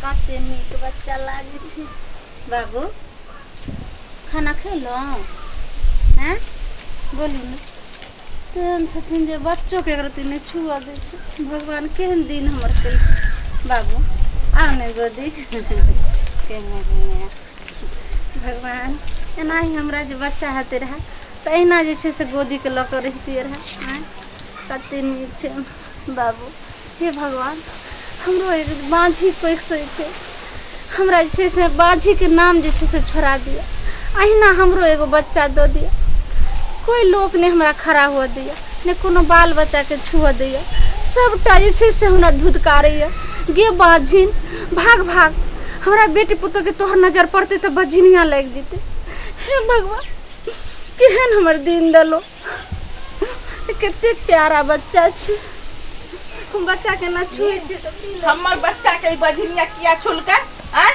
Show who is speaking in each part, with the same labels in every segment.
Speaker 1: कते नीक बच्चा लागे छै बाबू खाना खेलहुँ हैं बोलू ने तेहन छथिन जे बच्चोके एक रत्ती नहि छुअ दै छै भगवान केहन दिन हमर केलखिन बाबू आउ ने गोदी केहन दिन भगवान एनाही हमरा जे बच्चा हेतै रहए तऽ अहिना जे छै से गोदीके लऽ कऽ रहितियै रहए आँय कतेक नीक छै बाबू हे भगवान हमरो एक बाँझी पैक सै छै हमरा जे छै से बाँझीके नाम जे छै से छोड़ा दिअ अहिना हमरो एगो बच्चा दऽ दिअ कोइ लोक नहि हमरा खड़ा हुअ दैए नहि कोनो बाल बच्चाके छुअ दैए सभटा जे छै से हमरा धुदकारैए गे बाँझिन भाग भाग हमरा बेटी पुतोहके तोहर नजर पड़तै तऽ बझिनिया लागि जेतै हे भगवान केहन हमर दिन देलहुँ कते प्यारा बच्चा छै हम बच्चा के ना छुए छै तऽ की लगे? हमर बच्चा के ई
Speaker 2: बझनिया किया छुलका आ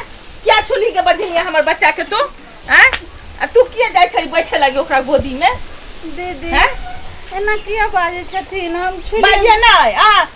Speaker 2: किया छुली के बझनिया हमर बच्चा के तू आ आ तू किया जाय छै बैठे लगे ओकरा गोदी में दीदी हैं?
Speaker 1: एना किया बाजै छथिन हम छुए बाजिए ना आ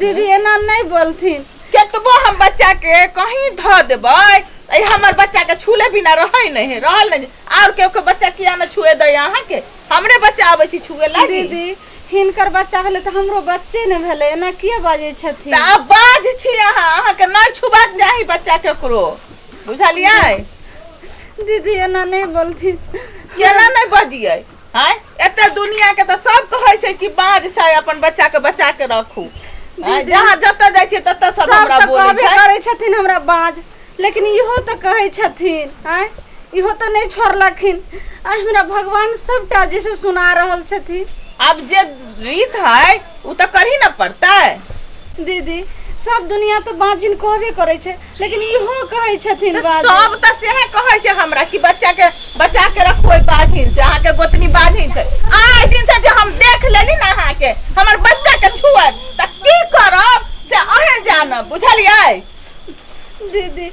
Speaker 1: दीदी एना नहीं बोलथिन केतबो हम
Speaker 2: बच्चा के कहीं ध देबै त ई हमर बच्चा के छूले बिना रहै नहीं है रहल नहीं और केहू के बच्चा किया न छुए दै अहाँ के हमरे बच्चा आबै छी छुए लागी दीदी हिनकर
Speaker 1: बच्चा भेलै तऽ हमरो बच्चे ने भेलै एना किया बाजै त छथिन आब बाज छी
Speaker 2: अहाँ अहाँ के नहीं छुबाक चाही बच्चा केकरो बुझलियै
Speaker 1: दीदी एना नहीं बोलथिन केना नहीं
Speaker 2: बजियै आँय एते दुनिया के तऽ सब कहै छै कि बाज छै अपन बच्चा के बचा के रखू आँय, दीदी, जहाँ जतऽ जाइ छै ततऽ सब सब हमरा तऽ बोलै कहबे छै करै छथिन हमरा
Speaker 1: बाँझ लेकिन इहो तऽ कहै छथिन आँय इहो तऽ नहि छोड़लखिन आइ हमरा भगवान सभटा जे से सुना रहल छथिन आब जे
Speaker 2: रीत है उ तऽ करही न पड़तै दीदी
Speaker 1: सब दुनिया तऽ बाँझिन कहबे करै छै लेकिन इहो कहै छथिन तऽ बाजू सब तऽ सेहे कहै
Speaker 2: छै हमरा कि बच्चा के बचा के रखो ओइ बाझिन से अहाँके गोतनी बाझिन छै आइ दिन से जे हम देख लेली ना अहाँके हमर बच्चा के छुए तऽ की करब से अहें जानब बुझलियै
Speaker 1: दीदी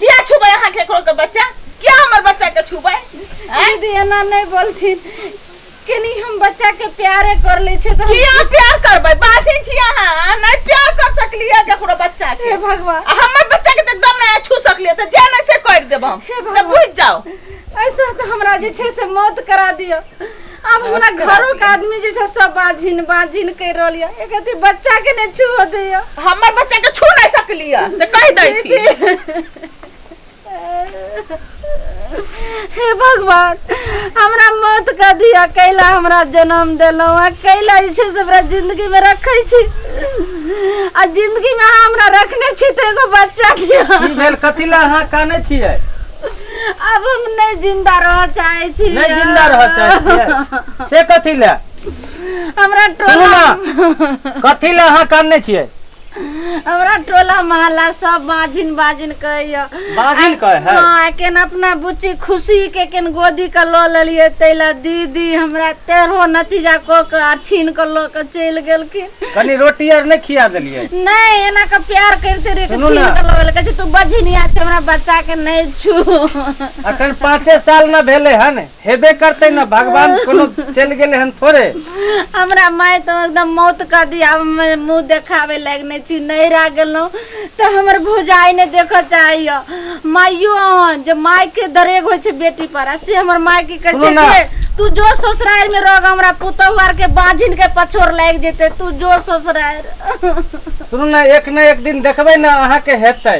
Speaker 1: किया
Speaker 2: छुबै अहाँ केकरो के बच्चा किया हमर बच्चा के छुबै आँय? दीदी एना
Speaker 1: नहीं बोलथिन केनी हम बच्चा के प्यारे कर ले छे तो हम किया प्यार करबै
Speaker 2: बाजिन छी अहाँ नै प्यार कर सकलियै ककरो बच्चा के हे भगवान आ हमर
Speaker 1: बच्चा के तऽ एकदम
Speaker 2: नै छू सकलियै तऽ जे नै से कर देब हम हे से भगवान। बुझ जाओ ऐसा तो
Speaker 1: हमरा जे छे से मौत करा दियो अब हमरा करा घरो के आदमी जे छे सब बाजिन बाजिन कर रहल ये एक अथी बच्चा के ने छुओ दियो हमर बच्चा के छू
Speaker 2: नै सकलियै से कहि दै छी दीदी
Speaker 1: हे भगवान हमरा मौत का दिया कैला हमरा जन्म देलहुँ आ कैला जे छै से हमरा जिंदगीमे रखै छी आ जिंदगीमे अहाँ हमरा रखने छी तऽ एगो बच्चा दिया की भेल कथी लए
Speaker 3: अहाँ काने छियै अब
Speaker 1: हम नहीं जिंदा रह चाहे छी नहि जिंदा रह चाहै छियै
Speaker 3: से कथी लए हमरा
Speaker 1: सुनू टोला ने कथी लए अहाँ
Speaker 3: कानने छियै हमरा
Speaker 1: टोला महल्ला सब बाजिन बाजिन कहैया बाजिन कहै है
Speaker 3: हाँ एखन अपना
Speaker 1: बुच्ची खुशी के एखन गोदी के लऽ लेलियै ताहि लए दीदी हमरा तेरहो नतीजा कऽ के आ छीन के लऽ के चलि गेलखिन कनी रोटी आर
Speaker 3: नहीं खिया देलिए नहीं एना के
Speaker 1: प्यार करते रहे छीन के लऽ गेल कहै तू बजिनिया छै हमरा बच्चा के नहीं छू अखन
Speaker 3: पाँचे साल न भेले है ने हेबे करते ना भगवान कोनो चल गेले हन थोड़े हमरा माय
Speaker 1: तो एकदम मौत कर दिया अब मैं मुंह देखावे लायक नहीं छी नहीं रह गेलो तो हमर भुजाई ने देख चाहिए माइयो हन जे माय के दरेग होय छै बेटी पर आ से हमर माय के कहे सुनो छै ना। कि तू जो ससुराल में रह हमरा पुतहु आर के बांझिन के पछोर लाग जेते तू जो ससुराल सुनू
Speaker 3: ना एक ना एक दिन देखबै ना अहाँके हेतै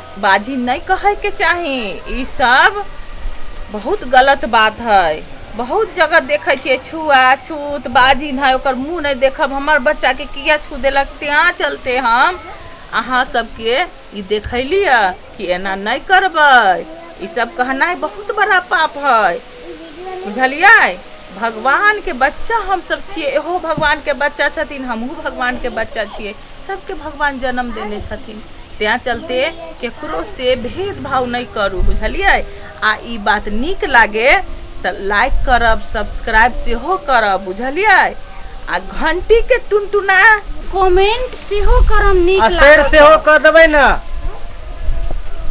Speaker 2: बाजी नहि कहैके चाही ई सब बहुत गलत बात है बहुत जगह देखै छियै छुआ छूत बाजी नहि ओकर मुँह नहि देखब हमर बच्चाके किया छू देलक तेँ चलते हम अहाँ सबके ई देखैलिए कि एना नहि करबै ई सब कहनाइ बहुत बड़ा पाप है बुझलियै भगवानके बच्चा हमसब छियै एहो भगवानके बच्चा छथिन हमहूँ भगवानके बच्चा छियै सबके भगवान जन्म देने छथिन तैं चलते केकरो से भेदभाव नहीं करू बुझलिए आ ई बात निक लागे तो लाइक करब सब्सक्राइब से हो करब बुझलिए आ घंटी के
Speaker 1: टुनटुना
Speaker 3: कमेंट सेहो
Speaker 2: करम
Speaker 1: नीक आ
Speaker 3: शेयर लागत सेहो
Speaker 2: कऽ
Speaker 1: देबै
Speaker 3: ने